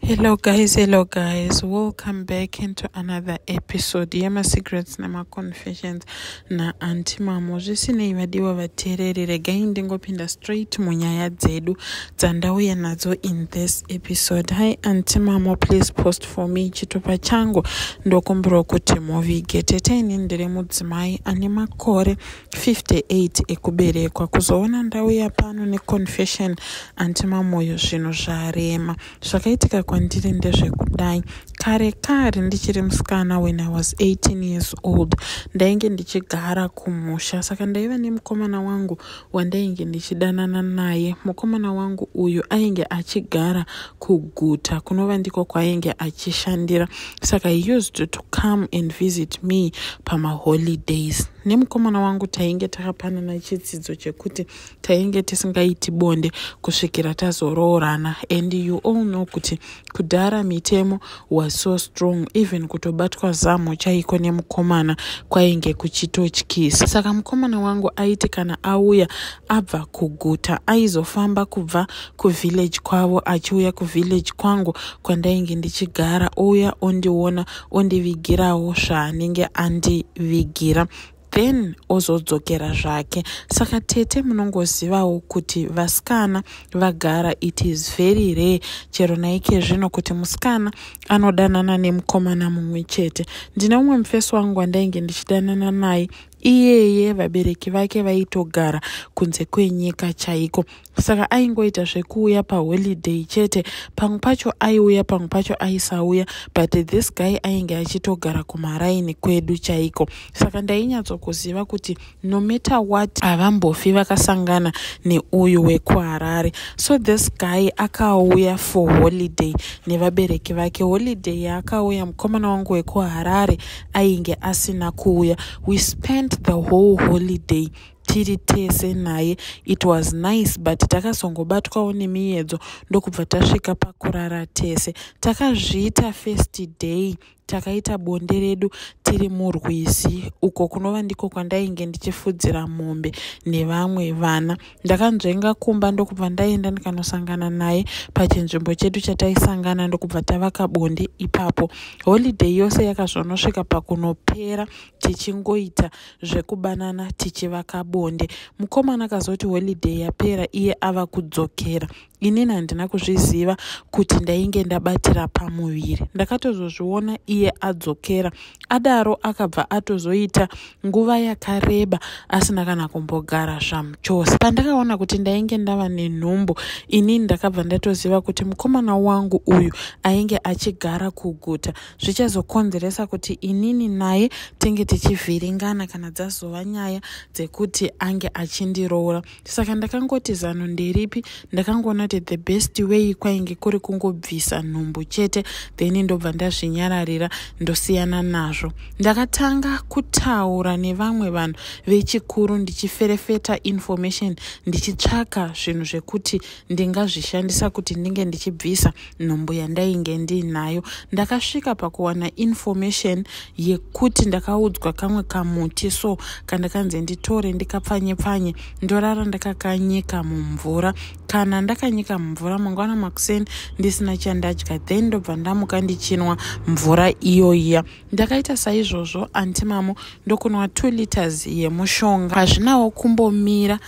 hello guys hello guys welcome back into another episode yemasecrets nemaconfessions naanti mamo zvisinei vadiwa vateereri regai ndingopinda straight munyaya dzedu dzandauya nadzo in this episode hi anti mamo please post for me chitupa changu ndokumbirwa kuti muvige tete ini ndiri mudzimai ane makore 58 ekuberekwa kuzoona ndauya pano neconfession anti mamoyo zvinhu zvarema zvakaitika kwandiri ndezvekudai kare kare ndichiri musikana when i was 18 years old ndainge ndichigara kumusha saka ndaiva nemukomana wangu wandainge ndichidanana naye mukomana wangu uyu ainge achigara kuguta kunova ndiko kwaainge achishandira saka he used to come and visit me pamaholidays nemukomana wangu tainge takapanana chitsidzo chekuti tainge tisingaiti bonde kusvikira tazoroorana and you all know kuti kudhara mitemo was so strong even kutobatwa zamu chaiko nemukomana kwainge kuchitotyisa saka mukomana wangu aiti kana auya abva kuguta aizofamba kubva kuvillage kwavo achiuya kuvillage kwangu kwandainge ndichigara ouya ondiona ondivigirawo zvaanenge andivigira then ozodzokera zvake saka tete munongozivawo kuti vasikana vagara it is very rare chero naike zvino kuti musikana anodanana nemukomana mumwe chete ndine umwe mufesi wangu wandainge ndichidanana naye iyeye vabereki vake vaitogara kunze kwenyika chaiko saka aingoita zvekuuya paholiday chete pamwe pacho aiuya pamwe pacho aisauya but this guy ainge achitogara kumaraini kwedu chaiko saka ndainyatsokuziva kuti no matter what havambofi vakasangana neuyu wekuharare so this guy akauya for holiday nevabereki vake holiday yaakauya mukomana wangu wekuharare ainge asina kuuya we spent the whole holiday tiri tese naye it was nice but takazongobatwawo nemiyedzo ndokubva tasvika pakurara tese takazviita first day takaita bonde redu tiri murwizi uko kunova ndiko kwandainge ndichifudzira mombe nevamwe vana ndakanzvenga kumba ndokubva ndaenda ndikanosangana naye pachinzvimbo chedu chataisangana ndokubva tavaka bonde ipapo holiday yose yakazonosvika pakunopera tichingoita zvekubanana tichivaka bonde mukomana akazoti holiday yapera iye ava kudzokera inini handina kuzviziva kuti ndainge ndabatira pamuviri ndakatozozviona iye adzokera adaro akabva atozoita nguva yakareba asina kana kumbogara zvamuchose pandakaona kuti ndainge ndava nenhumbu inini ndakabva ndatoziva kuti mukomana wangu uyu ainge achigara kuguta zvichazokonzeresa kuti inini naye tinge tichivhiringana kana dzazova nyaya dzekuti ange achindiroora saka ndakangoti zano nderipi ndakangoona kuti the best way kwainge kuri kungobvisa nhumbu chete then ndobva ndazvinyararira ndosiyana nazvo ndakatanga kutaura nevamwe vanhu vechikuru ndichiferefeta information ndichitsvaka zvinhu zvekuti ndingazvishandisa kuti ndinge ndichibvisa nhumbu yandainge ndiinayo ndakasvika pakuwana information yekuti ndakaudzwa kamwe kamuti so kandakanzi nditore ndikapfanye pfanye ndorara ndakakanyika mumvura kana ndakanyika mumvura mangwana makuseni ndisina chandadya then ndobva ndamuka ndichinwa mvura iyoiya ndakaita saizvozvo anti mamo ndokunwa two liters yemushonga hazvinawo kumbomira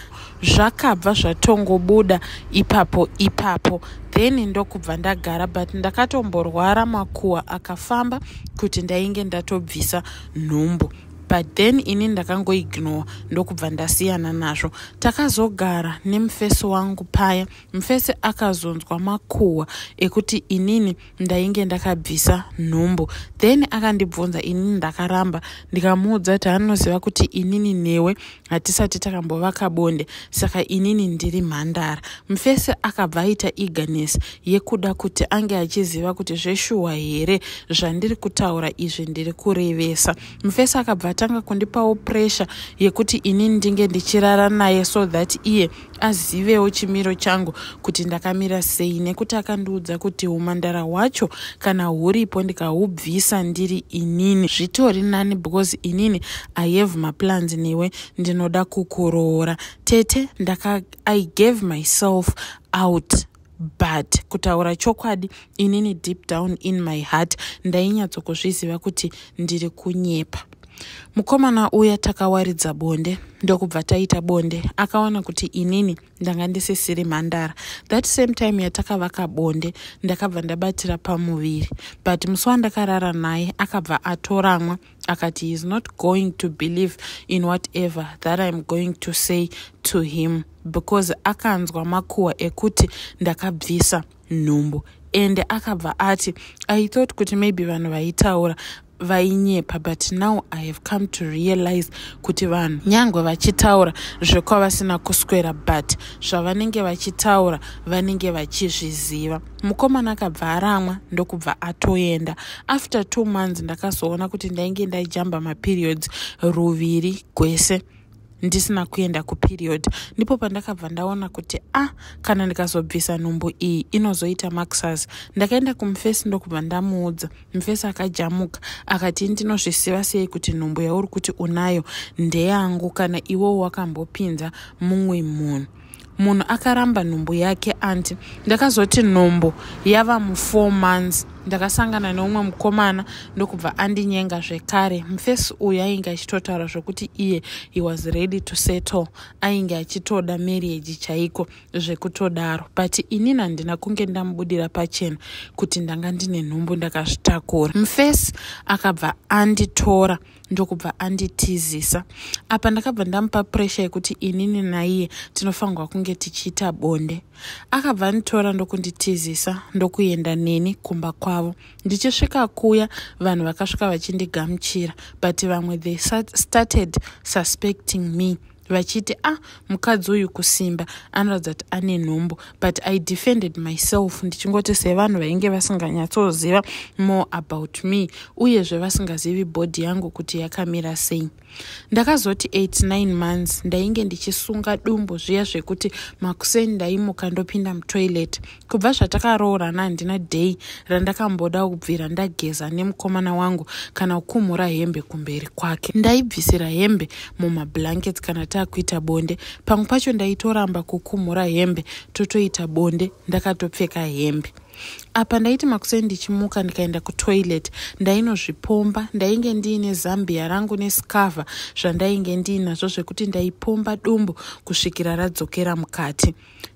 zvakabva zvatongobuda ipapo ipapo then ndokubva ndagara but ndakatomborwara makuwa akafamba kuti ndainge ndatobvisa nhumbu but then ini ndakangoignore ndokubva ndasiyana nazvo takazogara nemufesi wangu paya mufesi akazonzwa makuhwa ekuti inini ndainge ndakabvisa nhumbu then akandibvunza inini ndakaramba ndikamuudza kuti anoziva kuti inini newe hatisati takambovaka bonde saka inini ndiri mhandara mufese akabva aita eagerness yekuda kuti ange achiziva kuti zveshuwa here zvandiri kutaura izvi ndiri kurevesa mufese akabva atanga kundipawo pressure yekuti inini ndinge ndichirara naye so that iye azivewo chimiro changu kuti ndakamira sei nekuti akandiudza kuti umandara hwacho kana huripo ndikahubvisa ndiri inini zvitori nani because inini i have maplans newe ndinoda kukuroora tete ndaka i gave myself out but kutaura chokwadi inini deep down in my heart ndainyatsokuzviziva kuti ndiri kunyepa mukomana uya takawaridza bonde ndokubva taita bonde akawana kuti inini ndanga ndisisiri mhandara that same time yatakavaka bonde ndakabva ndabatira pamuviri but musi wandakarara naye akabva atoramwa akati heis not going to believe in whatever that iam going to say to him because akanzwa makuhwa ekuti ndakabvisa nhumbu ende akabva ati i thought kuti maybe vanhu vaitaura vainyepa but now i have come to realize kuti vanhu nyange vachitaura zvekwavasina kuswera but zvavanenge vachitaura vanenge vachizviziva mukomana akabva aramwa ndokubva atoenda after two months ndakazoona kuti ndainge ndaijamba maperiods ruviri gwese ndisina kuenda kuperiod ndipo pandakabva ndaona kuti a ah, kana ndikazobvisa nhumbu iyi inozoita maxas ndakaenda kumufesi ndokubva ndamuudza mufesi akajamuka akati ndinozvisiva sei kuti nhumbu yauri kuti unayo ndeyangu kana iwowo wakambopinza mumwe munhu munhu akaramba nhumbu yake anti ndakazoti nhumbu yava mufour months ndakasangana neumwe mukomana ndokubva andinyenga zvekare mufesi uyu ainge achitotaura zvekuti iye he was ready to settle ainge achitoda marriage chaiko zvekutodaro but inini handina kunge ndamubudira pachena kuti ndanga ndine nhumbu ndakazvitakura mufesi akabva anditora ndokubva anditizisa apa ndakabva ndamupa puresha yekuti inini naiye tinofanirwa kunge tichiita bonde akabva anditora ndokunditizisa ndokuenda neni kumba kwavo ndichisvika kuya vanhu vakasvika vachindigamuchira but vamwe they started suspecting me vachiti ah mukadzi uyu kusimba anoratidza kuti ane nhumbu but i defended myself ndichingoti sevanhu vainge vasinganyatsoziva more about me uyezve vasingazivi bhodhi yangu kuti yakamira sei ndakazoti 89 months ndainge ndichisunga dumbu zviya zvekuti makuseni ndaimuka ndopinda mutoilet kubva zvatakaroorana handina day randakamboda kubvira ndageza nemukomana wangu kana kukumhura hembe kumberi kwake ndaibvisira hembe mumablankets kana taakuita bonde pamwe pacho ndaitoramba kukumhura hembe totoita bonde ndakatopfeka hembe apa ndaiti makuseni ndichimuka ndikaenda kutoilet ndainozvipomba ndainge ndiine zambia rangu nescava zvandainge ndiinazvo zvekuti ndaipomba dumbu kusvikira radzokera mukati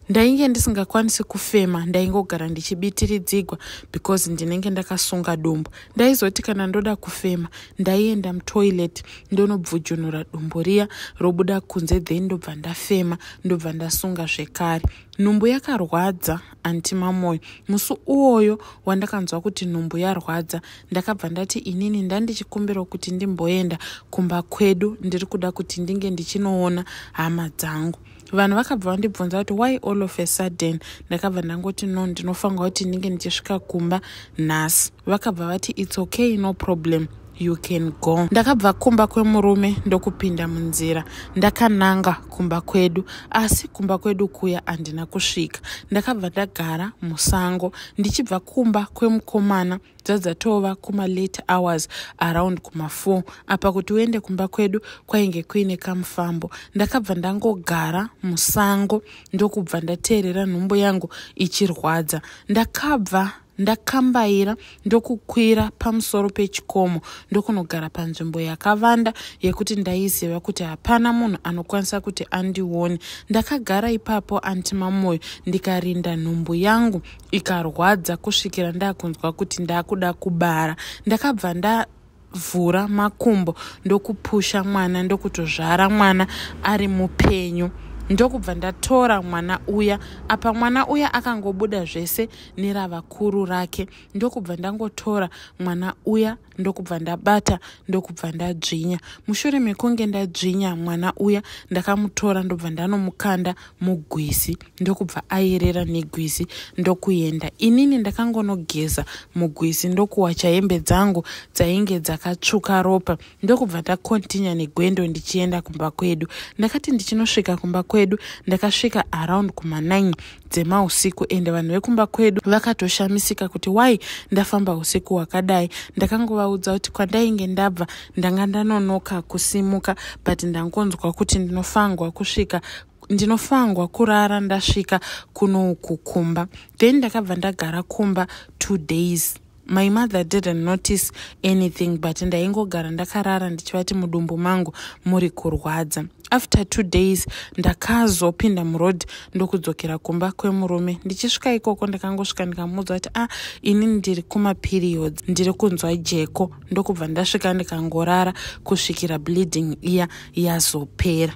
ndainge ndisingakwanisi kufema ndaingogara ndichibitiridzigwa because ndinenge ndakasunga dumbu ndaizoti kana ndoda kufema ndaienda mutoilet ndonobvujunura dumbu riya robuda kunze then ndobva ndafema ndobva ndasunga zvekare nhumbu yakarwadza anti mamoyo musi uwoyo wandakanzwa kuti nhumbu yarwadza ndakabva ndati inini ndandichikumbirawo kuti ndimboenda kumba kwedu ndiri kuda kuti ndinge ndichinoona hama dzangu vanhu vakabva vandibvunza kuti why all of a sudden ndakabva ndangoti no ndinofanirwa kuti ndinge ndichisvika kumba nhasi vakabva vati its okay no problem you can go ndakabva kumba kwemurume ndokupinda munzira ndakananga kumba kwedu asi kumba kwedu kuya handina kusvika ndakabva ndagara musango ndichibva kumba kwemukomana dzadzatova kuma late hours around kuma 4 apa kuti uende kumba kwedu kwainge kuine kamufambo ndakabva ndangogara musango ndokubva ndateerera nhumbu yangu ichirwadza ndakabva ndakambaira ndokukwira pamusoro pechikomo ndokunogara panzvimbo yakavanda yekuti ndaiziva kuti hapana munhu anokwanisa kuti andione ndakagara ipapo anti mamoyo ndikarinda nhumbu yangu ikarwadza kusvikira ndakunzwa kuti ndakuda kubara ndakabva nda vhura makumbo ndokupusha mwana ndokutozvara mwana ari mupenyu ndokubva ndatora mwana uya apa mwana uya akangobuda zvese neravakuru rake ndokubva ndangotora mwana uya ndokubva ndabata ndokubva ndadzvinya mushure mekunge ndadzvinya mwana uya ndakamutora ndobva ndanomukanda mugwizi ndokubva ayerera negwizi ndokuenda inini ndakangonogeza mugwizi ndokuwacha hembe dzangu dzainge dzakatsvuka ropa ndokubva ndakontinya negwendo ndichienda kumba kwedu ndakati ndichinosvika kumba kwedu ndakasvika around kuma9 dzemausiku ende vanhu vekumba kwedu vakatoshamisika kuti why ndafamba usiku hwakadai ndakangovaudza kuti kwandainge ndabva ndanga ndanonoka kusimuka but ndangonzwa kuti ndinofangwa kusvika ndinofangwa kurara ndasvika kuno uku kumba then ndakabva ndagara kumba two days my mother didn't notice anything but ndaingogara ndakarara ndichivati mudumbu mangu muri kurwadza after two days ndakazopinda muroad ndokudzokera kumba kwemurume ndichisvika ikoko ndakangosvika ndikamuudza kuti a ah, ini ndiri kumaperiods ndiri kunzwa jeko ndokubva ndasvika ndikangorara kusvikira bleeding iya yazopera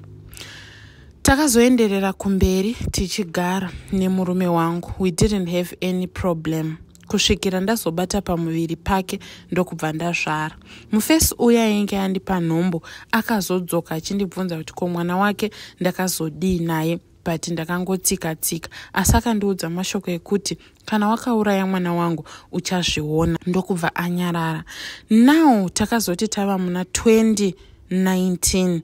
takazoenderera kumberi tichigara nemurume wangu we didn't have any problem kusvikira ndazobata pamuviri pake ndokubva ndazvara mufesi uya ainge andipa nhombo akazodzoka achindibvunza kuti ko mwana wake ndakazodii naye but ndakangotsika tsika asi akandiudza mashoko ekuti kana wakauraya mwana wangu uchazviona ndokubva anyarara now takazoti tava muna 2019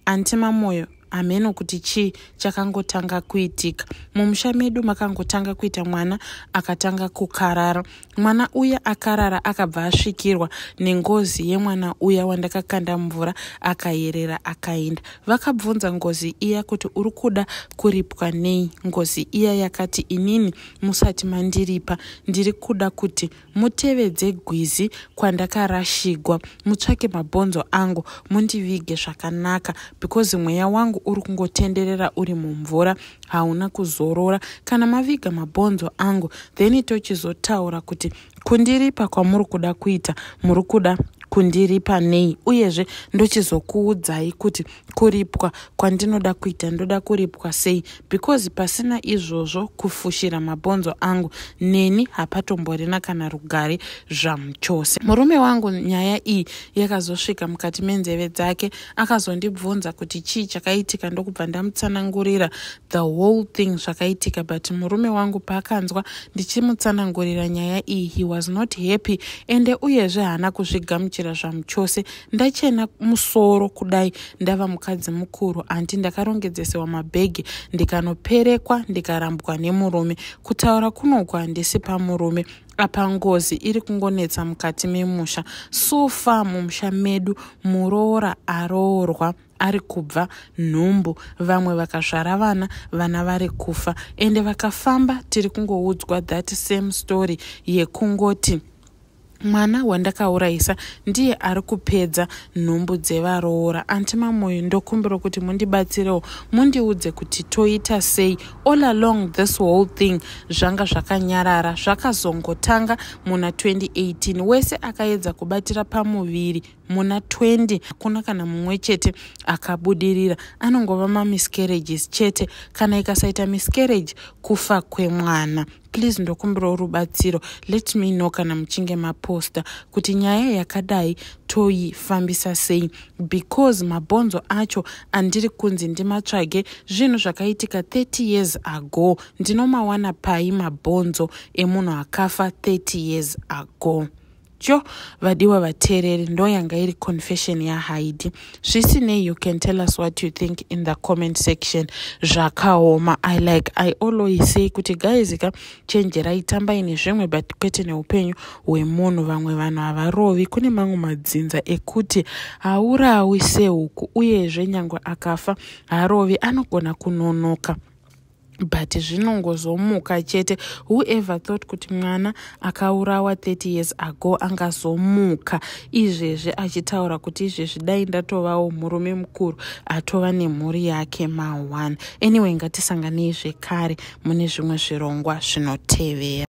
anti mamoyo hameno kuti chii chakangotanga kuitika mumusha medu makangotanga kuita mwana akatanga kukarara mwana uya akarara akabva asvikirwa nengozi yemwana uya wandakakanda mvura akayerera akaenda vakabvunza ngozi iya kuti uri kuda kuripwa nei ngozi iya yakati inini musati mandiripa ndiri kuda kuti mutevedze gwizi kwandakarashigwa mutsvake mabhonzo angu mundivige zvakanaka because mweya wangu uri kungotenderera uri mumvura hauna kuzorora kana maviga mabhonzo angu then tochizotaura kuti kundiripa kwamuri kuda kuita muri kuda kundiripa nei uyezve ndochizokuudzai kuti kuripwa kwandinoda kuita ndoda kuripwa sei because pasina izvozvo kufushira mabhonzo angu neni hapatomborina kana rugare zvamu chose murume wangu nyaya iyi yakazosvika mukati menzeve dzake akazondibvunza kuti chii chakaitika ndokubva ndamutsanangurira the whole thing zvakaitika but murume wangu paakanzwa ndichimutsanangurira nyaya iyi he was not happy ende uyezve haana kuzvigamuchira zvamu chose ndachena musoro kudai ndava mukadzi mukuru anti ndakarongedzesewa mabhegi ndikanoperekwa ndikarambwa nemurume kutaura kunoko handisi pamurume apa ngozi iri kungonetsa mukati memusha so far mumusha medu muroora aroorwa ari kubva nhumbu vamwe vakazvara vana vana vari kufa ende vakafamba tiri kungoudzwa that same story yekungoti mwana wandakaurayisa ndiye ari kupedza nhumbu dzevaroora anti mamoyo ndokumbira kuti mundibatsirewo mundiudze kuti toita sei all along this whole thing zvanga zvakanyarara zvakazongotanga muna 2018 wese akaedza kubatira pamuviri muna 20 hakuna kana mumwe chete akabudirira anongova mamiscarriages chete kana ikasaita miscarriage kufa kwemwana please ndokumbirawo rubatsiro let me know kana muchinge maposta kuti nyaya yakadai toifambisa sei because mabhonzo acho andiri kunzi ndimatsvage zvinhu zvakaitika 30 years ago ndinomawana pai mabhonzo emunhu akafa 30 years ago Cho, vadiwa vateereri ndoyanga iri confession yaHaidi. Zvisinei, you can tell us what you think in the comment section. Zvakaoma. I like, I always say kuti guys ka chenjerai tambai nezvimwe but kwete neupenyu hwemunhu. Vamwe vanhu havarovi. Kune mamwe madzinza ekuti haurawi sehuku uyezve nyangwe akafa harovi anogona kunonoka. but zvinongozomuka chete whoever thought kuti mwana akaurawa 30 years ago angazomuka izvezvi achitaura kuti izvezvi dai ndatovawo murume mukuru atova nemhuri yake ma1 anyway ngatisanganei zvekare mune zvimwe zvirongwa zvinotevera